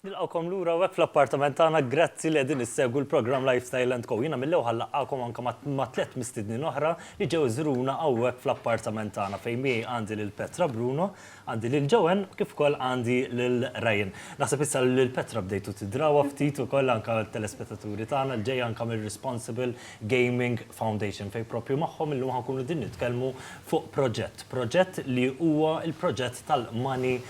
Nilqgħukom lura hawnhekk fl-appartament tagħna, grazzi li qegħdin issegwu l-programm Lifestyle and Co. Jiena mill-ewħa nlaqqagħkom anke ma' tliet mistednin oħra li ġew iżuruna hawnhekk fl-appartament tagħna fejn miegħi għandi lil Petra, Bruno, għandi lil Joanne kif ukoll għandi lil Ryan. Naħseb issa li lil Petra bdejtu tidrawha ftit ukoll anke t-telespettaturi tagħna li ġej anke mir-Responsible Gaming Foundation fejn proprju magħhom illum ħa nkunu qegħdin nitkellmu fuq proġett. Proġett li huwa l-proġett tal-Money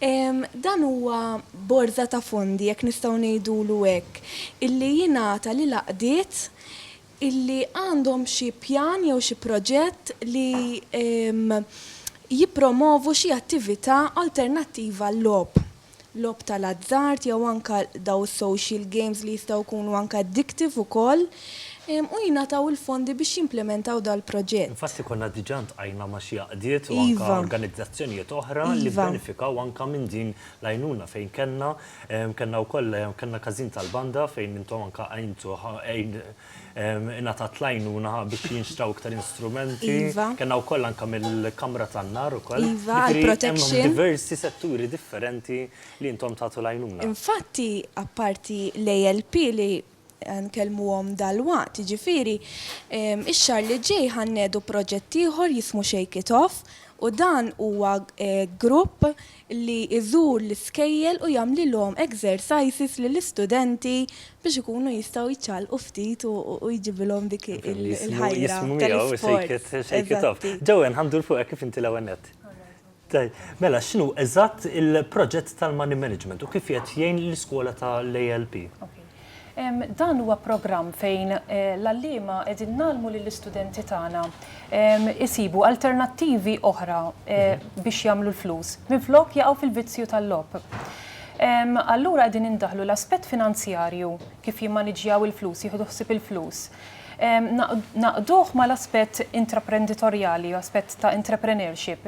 Dan huwa borża ta' fondi, jekk nistgħu ngħidulu hekk, illi jingħata lil għaqdiet illi għandhom xi pjan jew xi proġett li jippromovu xi attività alternattiva għal-logħob, logħob tal-azzard jew anke dawn is-social games li jistgħu jkunu anke addictive ukoll. U jingħataw il-fondi biex jimplimentaw dal-proġett. Infatti konna diġà ltqajna ma' xi għaqdiet u anke organizzazzjonijiet oħra li bbenefikaw anke minn din l-għajnuna fejn kellna, kellna wkoll, kellna każin tal-banda fejn intom anke għintu, ingħatat l-għajnuna biex jinxtraw iktar instrumenti, kellna wkoll anke mill-kamra tan-nar ukoll. Jiġifieri hemm diversi setturi differenti li intom tagħtu l-għajnuna. Infatti apparti l-ALP li Ħa nkellmuhom dalwaqt, jiġifieri x-xahar li ġej ħa nnedu proġett ieħor jismu Shake it Off u dan huwa grupp li jżur l-iskejjel u jagħmlilhom exercises lill-istudenti biex ikunu jistgħu jċallqu ftit u jġibilhom dik il-ħajra tal-isport. Bellissimo jismu miegħu Shake it Off. Joanne, ħa ndur fuqek kif inti l-ewwel nett? Tajjeb. Mela, x'inhu eżatt il-proġett tal-money management u kif qiegħed jgħin l-iskola tal-ALP? Dan huwa programm fejn l-għalliema qegħdin ngħallmu lill-istudenti tagħna jsibu alternattivi oħra biex jagħmlu l-flus minflok jaqgħu fil-vizzju tal-logħob. Allura qegħdin indaħħlu l-aspett finanzjarju, kif jimmaniġġjaw il-flus, jieħdu ħsieb il-flus, nagħqduh mal-aspett intraprenditorjali, aspett ta' entrepreneurship,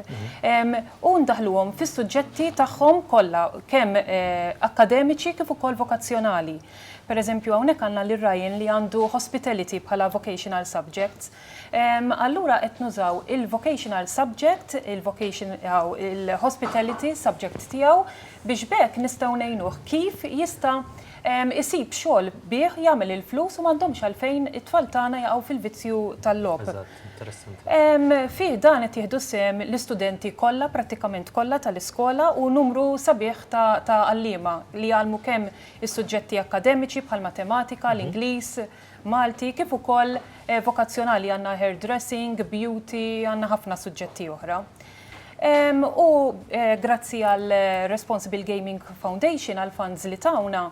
u ndaħħluhom fis-suġġetti tagħhom kollha, kemm akkademiċi kif ukoll vokazzjonali. Pereżempju hawnhekk għandna lil Ryan li għandu hospitality bħala vocational subject. Allura qed nużaw il-vocational subject, il-hospitality subject tiegħu biex b'hekk nistgħu ngħinuh kif jista' isib xogħol bih jagħmel il-flus u m'għandhomx għalfejn it-tfal tagħna jaqgħu fil-vizzju tal-logħob. Eżatt, interessanti. Fih dan qed jieħdu sehem l-istudenti kollha, prattikament kollha, tal-iskola u numru sabiħ ta' ta' għalliema li jgħallmu kemm is-suġġetti akkademiċi bħall-matematika, l-Ingliż, Malti, kif ukoll vokazzjonali, għandna hairdressing, beauty, għandna ħafna suġġetti oħra. U grazzi għal Responsible Gaming Foundation għal funds li tawna,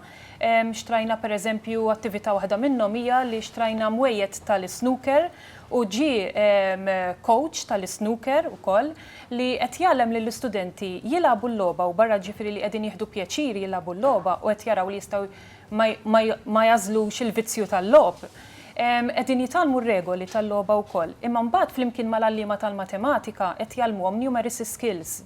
xtrajna per eżempju attività waħda minnhom hija li xtrajna mwejjed tal-isnooker u ġie coach tal-isnooker ukoll li qed jgħallem lill-istudenti jilagħbu l-logħba u barra ġifieri li qegħdin jieħdu pjaċir jilagħbu l-logħba u qed jaraw li jistgħu ma jagħżlux il-vizzju tal-logħob. Qegħdin jitgħallmu r-regoli tal-logħba wkoll, imma mbagħad flimkien mal-għalliema tal-matematika qed jgħallmuhom numeracy skills.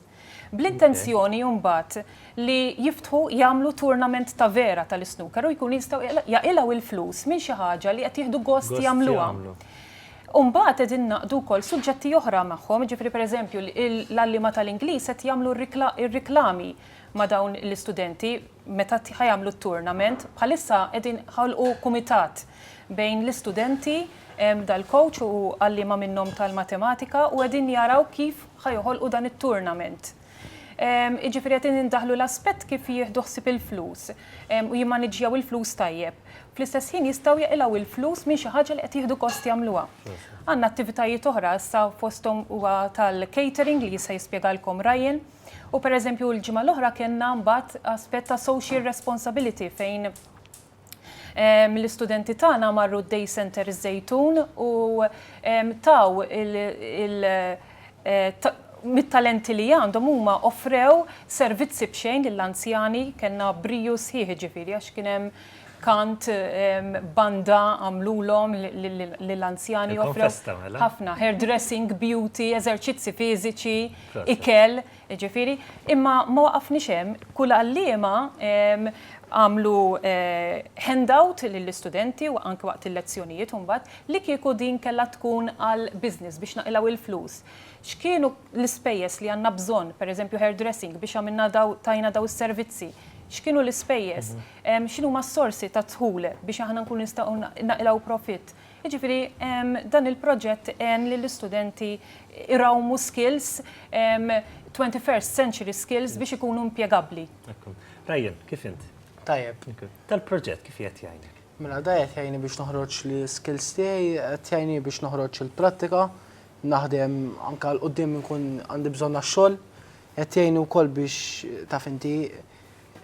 Bl-intenzjoni mbagħad li jiftħu jagħmlu tournament ta' vera tal-isnooker u jkunu jistgħu jaqilgħu il-flus minn xi ħaġa li qed jieħdu gost jagħmluha. U mbagħad qegħdin ingħaqdu wkoll suġġetti oħra magħhom, jiġifieri pereżempju l-għalliema tal-Ingliż qed jagħmlu r-riklami ma' dawn l-istudenti meta ħa jagħmlu t-tournament. Bħalissa qegħdin ħolqu kumitat bejn l-istudenti dal-coach u għalliema minnhom tal-matematika u qegħdin jaraw kif ħa joħolqu dan it-tournament. Jiġifieri qed indaħħlu l-aspett kif jieħdu ħsieb il-flus u jimmaniġġjaw il-flus tajjeb. Fl-istess ħin jistgħu jaqilgħu il-flus minn xi ħaġa li qed jieħdu gost jagħmluha. Għandna attivitajiet oħra issa fosthom huwa tal-catering li issa jispjegalkom Ryan. U pereżempju l-ġimgħa l-oħra kellna mbagħad aspett ta' social responsibility fejn mill-istudenti ehm, tagħna marru d-Day Center iż-Żejtun u ehm, taw il- eh, mit-talenti li għandhom huma offrew servizzi bxejn lill-anzjani kellna briju sħiħ ġifieri għax kien hemm kant banda għamlulhom lill-anzjani offrew mela. ħafna hairdressing, beauty, eżerċizzi fiżiċi, ikel, jiġifieri, imma ma waqafniex hemm, kull għalliema għamlu handout lill-istudenti u anke waqt il-lezzjonijiet u mbagħad li kieku din kellha tkun għal business biex naqilgħu l-flus, x'kienu l-ispejjeż li għandna bżonn, pereżempju hairdressing biex għamilna dawn, tajna dawn is-servizzi, x'kienu l-ispejjeż, x'inhuma s-sorsi tad-dħul biex aħna nkunu nistgħu naqilgħu profitt. Jiġifieri dan il-proġett għen lill-istudenti jrawmu skills, twenty first century skills biex ikunu impjegabbli. Ekku. Ryan, kif int? Tajjeb. Dal-proġett kif qiegħed jgħinek? Mela da qed jgħinni biex noħroġ l-iskills tiegħi, qed jgħinni biex noħroġ il-prattika, naħdem anke għal quddiem inkun għandi bżonn għax-xogħol, qed jgħinni wkoll biex taf inti,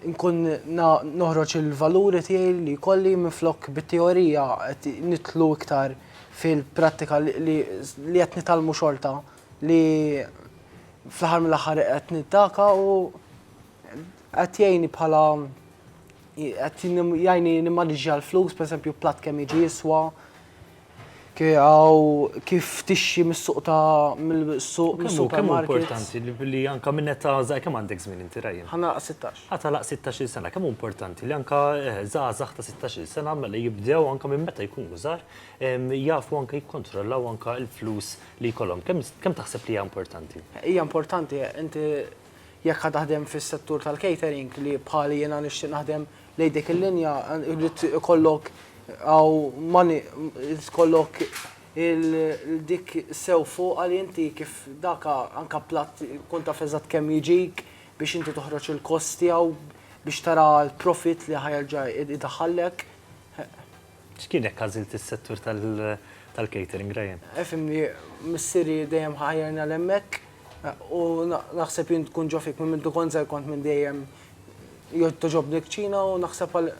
Inkun noħroġ il-valuri tiegħi li jkolli minflok bit-teorija qed nidħlu iktar fil-prattika li qed nitgħallmu xorta li fl-aħħar mill-aħħar qed niddaka u qed jgħinni bħala qed jgħinni nimmaniġġja l-flus, pereżempju platt kemm jiġi jiswa, Kemm hu importanti li anke minn età żgħira, kemm għandek żmien inti Ryan? Ħa nagħlaq sittax. Ħa tagħlaq sittax-il sena. Kemm hu importanti li anke żgħażagħ ta' sittax-il sena mela jibdew anke minn meta jkunu żgħar jafu anke jikkontrollaw anke l-flus li jkollhom. Kemm taħseb li hija importanti? Hija importanti. Inti jekk ħa taħdem fis-settur tal-catering li bħali jiena nixtieq naħdem Lejn dik il-linja jrid ikollok għaw mani ikollok il-dik sew fuq għal inti kif daka anka platt kun taf eżatt kemm jiġik biex inti toħroġ il-kost tiegħu biex tara l-profit li ħajerġa' idaħħallek. X'kien jekk għażilt is-settur tal-catering, Ryan? Ifhimni, missieri dejjem ħa ħajjarna 'l hemmhekk u naħseb jien tkun ġo fik, minn mindu kont żgħir kont minn dejjem togħġobni l-kċina u naħseb għal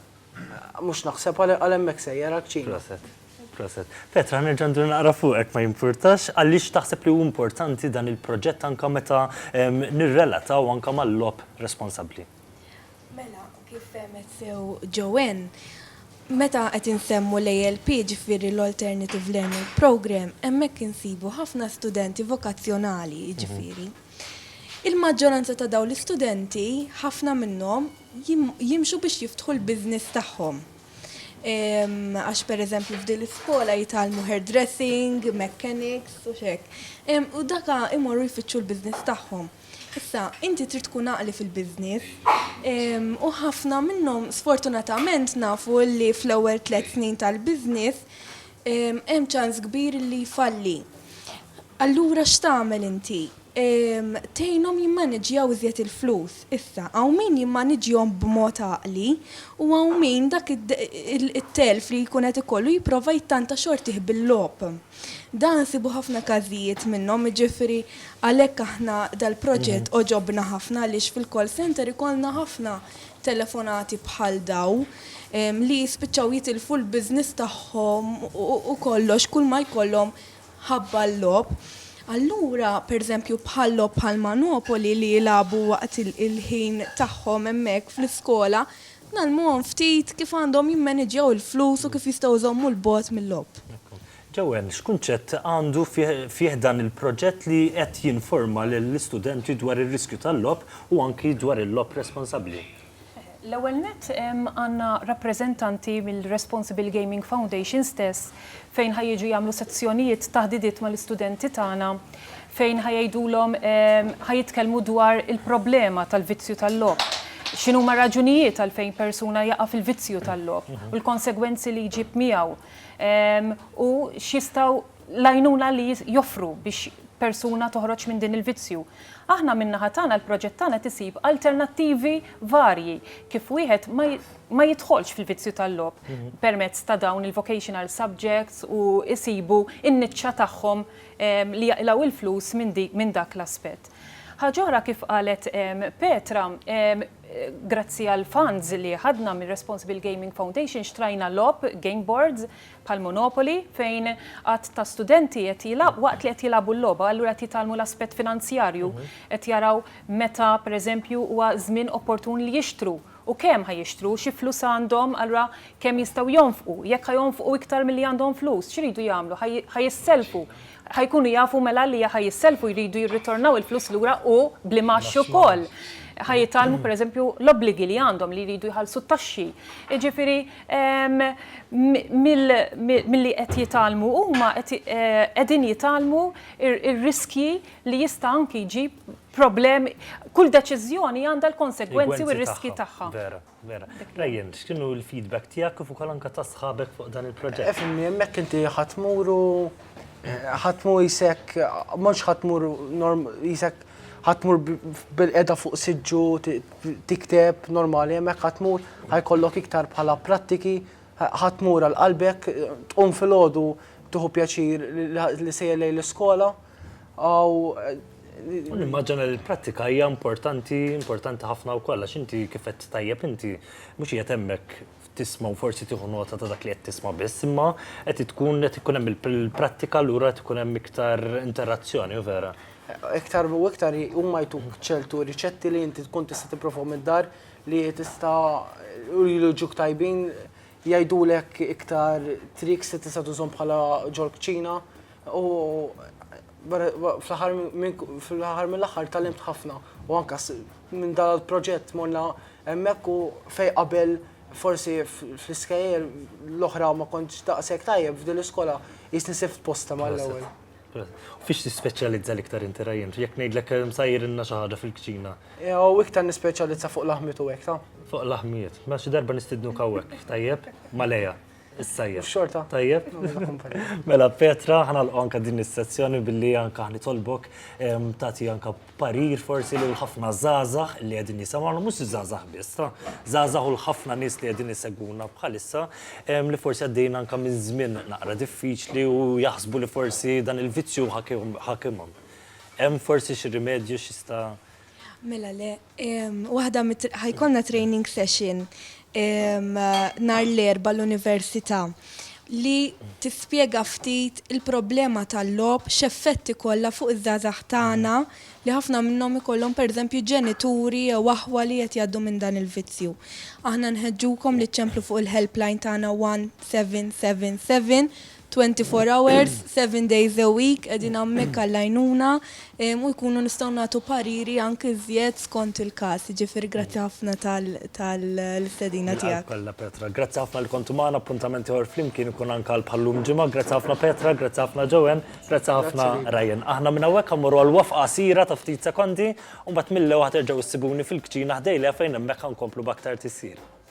mhux naħseb għal għal hemmhekk sejjer, għall-kċina. Proset. Proset. Petra, nerġa' ndur naqra fuqek ma jimpurtax, għaliex taħseb li hu importanti dan il-proġett anke meta nirrelataw anke mal-logħob responsabbli? Mela, kif fehmet sew Joanne, meta qed insemmu l-ALP, ġifieri l-Alternative Learning Programme, hemmhekk insibu ħafna studenti vokazzjonali, jiġifieri. Il-maġġoranza ta' dawn l-istudenti, ħafna minnhom jimxu biex jiftħu l-business tagħhom. Għax pereżempju f'din l-iskola jitgħallmu hairdressing, mechanics u x'hekk. U daka imorru jfittxu l-business tagħhom. Issa, inti trid tkun għaqli fil-business. U ħafna minnhom sfortunatament nafu li fl-ewwel tliet snin tal-business hemm ċans kbir li jfalli. Allura x'tagħmel inti? Tgħinhom jimmaniġġjaw iżjed il-flus. Issa, hawn min jimmaniġġjahom b'mod għaqli u hawn min dak it-telf li jkun qed ikollu jipprova jittanta xortih bil-logħob. Dan nsibu ħafna każijiet minnhom, jiġifieri għalhekk aħna dal-proġett għoġobna ħafna għaliex fil-call center ikollna ħafna telefonati bħal dawn li jispiċċaw jitilfu l-business tagħhom u kollox kull ma jkollhom ħabba l-logħob. Allura, pereżempju bħal logħob bħal Manopoli li jilagħbu waqt il-ħin tagħhom hemmhekk fl-iskola, Ngħallmuhom ftit kif għandhom jimmaniġġjaw il-flus u kif jistgħu jżommu 'l bogħod mil-logħob. Joanne, x'kunċett għandu fih dan il-proġett li qed jinforma lill-istudenti dwar ir-riskju tal-logħob u anki dwar il-logħob responsabbli? L-ewwel nett, għandna rappreżentanti mill-Responsible Gaming Foundation stess fejn ħa jiġu jagħmlu sezzjonijiet taħdidiet mal-istudenti tagħna fejn ħa jgħidulhom ħa jitkellmu dwar il-problema tal-vizzju tal-logħob. X'inhuma raġunijiet għalfejn persuna jaqa' fil-vizzju tal-logħob u l-konsegwenzi li jġib miegħu u x'jistgħu l-għajnuna li joffru biex persuna toħroġ minn din il-vizzju. Aħna min-naħa tagħna l-proġett tagħna tisib alternattivi varji kif wieħed ma ma jidħolx fil-vizzju tal-logħob permezz ta' dawn il-vocational subjects u jsibu n-niċċa tagħhom li jaqilgħu l-flus minn dak l-aspett. Ħaġa oħra kif qalet Petra, grazzi għall-funds li ħadna mir-Responsible Gaming Foundation xtrajna logħob, game boards, bħal Monopoly fejn għadd ta' studenti qed jilgħabu waqt li qed jilgħabu l-logħba allura qed jitgħallmu l-aspett finanzjarju, qed jaraw meta pereżempju huwa żmien opportun li jixtru U kemm ħa jixtru? Xi flus għandhom? Allura kemm jistgħu jonfqu? Jekk ħa jonfqu iktar milli għandhom flus, x'iridu jagħmlu? Ħa jisselfu. Ħa jkunu jafu mela li ħa jisselfu, jridu jirritornaw il-flus lura u bl-imgħax ukoll. Ħa jitgħallmu pereżempju l-obbligi li għandhom li jridu jħallsu t-taxxi. Jiġifieri milli qed jitgħallmu huma qegħdin jitgħallmu r-riskji li jista' anki jġib problemi, kull deċiżjoni għandha l-konsegwenzi u r-riskji tagħha. Vera, vera. Ryan, x'kienu l-feedback tiegħek kif ukoll anke ta' sħabek fuq dan il-proġett? Efimni, hemmhekk inti ħadd tmur u ħadd tmur isek, mhux ħadd tmur isek ħadd tmur bil-qeda fuq siġġu tikteb normali, hemmhekk ħadd tmur ħajkollok iktar bħala prattiki, ħadd tmur għal qalbek, tqum filgħodu tuħu pjaċir li sejjer lejn l-iskola, u U nimmaġina li l-prattika hija importanti, importanti ħafna wkoll għax inti kif qed tajjeb inti mhux qiegħed hemmhekk tisma' u forsi tieħu nota ta' dak li qed tisma' biss, imma qed tkun qed ikun hemm il-prattika allura qed ikun hemm iktar interazzjoni, u vera? Iktar u iktar huma jtuk ċertu riċetti li inti tkun tista' tipprova mid-dar li tista' u jiġuk tajbin jgħidulek iktar triks li tista' tużhom bħala ġol-kċina u Fl-aħħar mill-aħħar tgħallimt ħafna u anke minn dan il-proġett morna hemmhekk u fejn qabel forsi fl-iskejjel l-oħra ma kontx daqshekk tajjeb f'din l-iskola qisni sibt posta mal-ewwel. Fiex tispeċjalizza l-iktar inti Ryan? Jekk ngħidlek sejrilna xi ħaġa fil-kċina. Jew iktar nispeċjalizza fuq laħmiet u hekk ta? Fuq laħmiet. Mela xi darba nistidnuk hawnhekk, tajjeb? Ma' Leah. Is-sajjef. Xorta. Tajjeb. Mela Petra, ħanalqu anka din is-sezzjoni billi anka ħnitolbok tagħti anka parir forsi lil ħafna żgħażagħ li qegħdin jisimgħu mhux żgħażagħ biss, żgħażagħ u l-ħafna nies li qegħdin isegwuna bħalissa li forsi għaddejjin anka minn żmien naqra diffiċli u jaħsbu li forsi dan il-vizzju ħakimhom. Hemm forsi xi rimedju x'jista' Mela le, waħda ħajkonna training session nar l-erba l-Università li tispjega ftit il-problema tal-lob x'effetti kollha fuq iż-żgħażagħ tagħna li ħafna minnhom ikollhom pereżempju ġenituri jew aħwa li qed jgħaddu minn dan il-vizzju. Aħna nħeġġukom li ċċemplu fuq il-helpline tagħna 1777 Twenty four hours, seven days a week qegħdin hammhekk għall-għajnuna u jkunu nistgħu nagħtu pariri anki żjed skont il-każ. Jiġifieri grazzi ħafna tal-istedina tiegħek. Bil-qalb kollha Petra. Grazzi ħafna li kontu magħna. Appuntament ieħor flimkien ikun anke għal bħal-lum il-Ġimgħa. Grazzi ħafna Petra, grazzi ħafna Joanne, grazzi ħafna Ryan. Aħna minn hawnhekk ħammorru għal waqfa qasira ta' ftit sekondi u mbagħad mill-ewha terġgħu ssibuni fil-kċina ħdejlha fejn hemmhekk ħa nkomplu b'aktar tisjir.